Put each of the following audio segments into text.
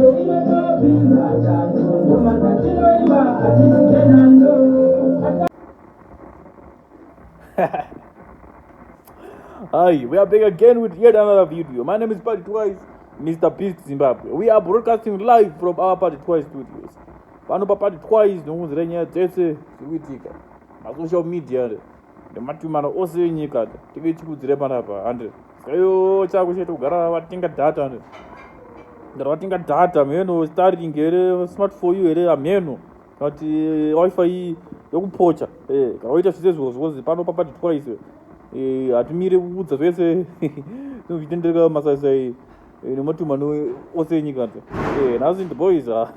Hi, we are back again with yet another video. My name is Party Twice, Mr. Beast Zimbabwe. We are broadcasting live from our Party Twice studios. Pano pa Party Twice, ndokunzira nyaya dzese dziri kuitika. Ma social media. nematumano ose enyika tinge tichikudzire panapa and skayo chako chete kugara vatenga data and gara vatenga data mheno starring here smart for you here amheno but eh, wifi iyi yokupocha eh, gara waita zvise zvozi wozi pano papati twice eh, hatimire kuudza zvese zvitendereka masaisai Eh, nematuma ose enyika nze eh, nhasi ndiboys ah,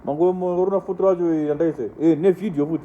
mangorona futi racho eh, yandaise nevideo futi